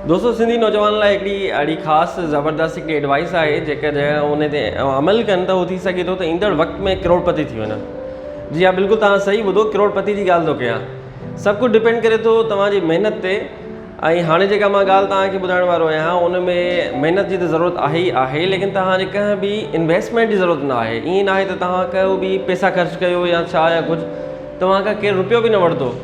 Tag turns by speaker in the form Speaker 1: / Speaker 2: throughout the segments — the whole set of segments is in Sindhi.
Speaker 1: دوستو سنڌي نوجوانن لاء هڪڙي اهڙي خاص زبردست هڪڙي ايڊوائيس آهي جيڪڏهن ان تي عمل ڪن ته هو ٿي سگهي ٿو ته ايندڙ وقت ۾ ڪروڙپتي ٿي وڃن جي ها بلڪل توهان صحيح ٻڌو ڪروڙپتي جي ڳالهه ٿو ڪيان سڀ ڪجهه ڊپينڊ ڪري ٿو توهان جي محنت تي ۽ هاڻي جيڪا مان ڳالهه توهان کي ٻڌائڻ وارو آهيان ان ۾ محنت جي ته ضرورت آهي ئي آهي ليڪن توهان جي ڪنهن به انويسٽمينٽ جي ضرورت نه آهي ائين ناهي ته توهان ڪو به پيسا خرچ ڪيو يا ڇا يا ڪجهه توهان کان ڪير روپيو به نه وٺندو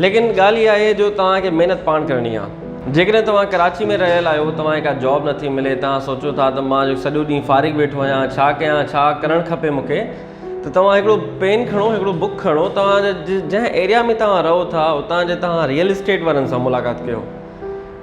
Speaker 1: ليڪن ڳالهه اها آهي جو توهان کي محنت پاڻ ڪرڻي آهي. جيڪڏهن توهان ڪراچي ۾ رهيل آهيو، توهان کي ڪا جاب نٿي ملي، توهان سوچيو ٿا ته مان جو سڄو ڏينهن فارغ ويٺو آهيان، ڇا ڪيان، ڇا ڪرڻ کپي مون کي؟ ته توهان هڪڙو پين کڻو، هڪڙو بڪ کڻو، توهان جنهن ايريا ۾ توهان رهو ٿا، اتان جي توهان ريئل اسٽيٽ وارن سان ملاقات ڪيو.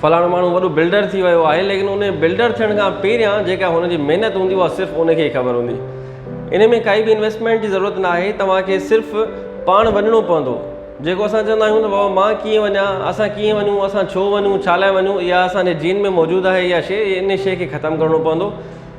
Speaker 1: فلاڻو ماڻهو وڏو بلڊر ٿي ويو آهي ليڪن ان بلڊر ٿيڻ کان پهريان جيڪا هن جي محنت هوندي اها صرف ان کي خبر هوندي ان ۾ ڪائي به انويسٽمينٽ جي ضرورت نه آهي توهان کي صرف پاڻ وڃڻو پوندو جيڪو اسان چوندا آهيون ته بابا مان ڪيئن وڃان اسان ڪيئن وڃون اسان ڇو وڃون ڇا لاء وڃون اها اسان جي جين ۾ موجود آهي اها شيء ان شيء کي ختم ڪرڻو پوندو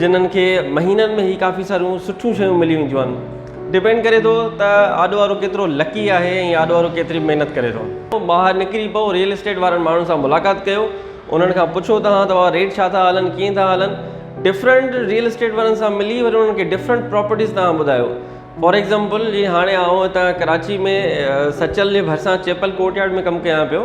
Speaker 1: جنھن کي مھينن ۾ ھي ڪافي ساريون سٺيون شيون ملي وينديون آھن ڊپينڊ ڪري ٿو ته آڏو وارو ڪيترو لڪي آھي ۽ آڏو وارو ڪيتري محنت ڪري ٿو ٻاھر نڪري پئو ريئل اسٽيٽ وارن ماڻھن سان ملاقات ڪيو انھن کان پڇو ته ھا توھان ريٽ ڇا ٿا ھلن ڪيئن ٿا ھلن ڊفرنٽ ريئل اسٽيٽ وارن سان ملي وري انھن کي ڊفرنٽ پراپرٽيز توھان ٻڌايو فار ايگزامپل جي ھاڻي آئون ھتان ڪراچي ۾ سچل جي ڀرسان چيپل ڪورٽ يارڊ ۾ ڪم ڪيان پيو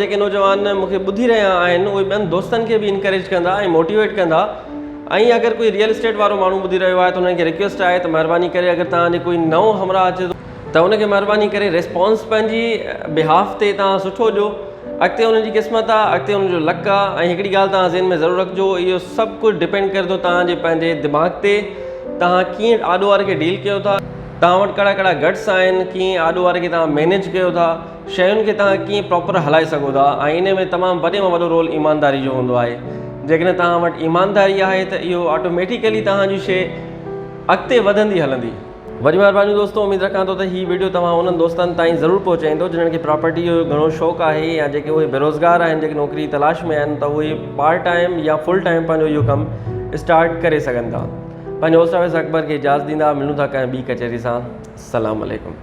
Speaker 1: جيڪي نوجوان مون کي ٻڌي رهيا آهن اهي ٻين دوستن کي به انڪريج ڪندا ۽ موٽيويٽ ڪندا ۽ اگر ڪوئي ريئل اسٽيٽ وارو ماڻهو ٻڌي رهيو آهي ته انهن کي رڪويسٽ آهي ته مهرباني ڪري اگر توهان جي ڪوئي نئون همراهه اچي ٿو ته ان کي مهرباني ڪري ريسپانس پنهنجي بهاف تي توهان سٺو ڏيو اڳتي ان جي قسمت آهي اڳتي ان جو لڪ آهي ۽ هڪڙي ڳالهه توهان ذهن ۾ ضرور رکجو اهو سڀ ڪجهه ڊپينڊ ڪري ٿو توهان جي پنهنجي دماغ تي توهان ڪيئن آڏو واري کي ڊيل ڪيو ٿا توهان وٽ ڪهڙا ڪهڙا گٽس آهن ڪيئن آڏو واري کي توهان مينيج ڪيو ٿا شين کي توهان ڪيئن پراپر هلائي سگهو ٿا آئيني ۾ تمام وڏي مان وڏو رول ايمانداري جو هوندو آهي جيڪڏهن توهان وٽ ايمانداري آهي ته اهو آٽوميٽيڪلي توهان جي شي اڳتي وڌندي هلندي. وڏي مھرباني دوستو اميد رکان ٿو ته هي وڊيو توهان انهن دوستن تائين ضرور پهچائيندو جنھن کي پراپرٽي جو گهڻو شوق آهي يا جيڪي اهي بيروزگار آهن جيڪي نوڪري تلاش ۾ آهن ته اهي پارٽ ٽائيم يا فل ٽائيم پنهنجو اهو ڪم اسٽارٽ ڪري سگهن ٿا پنهنجو هوسٽ آفيس اڪبر کي اجازت ڏيندا ملون ٿا ڪنهن ٻي ڪچهري سان سلام عليڪم.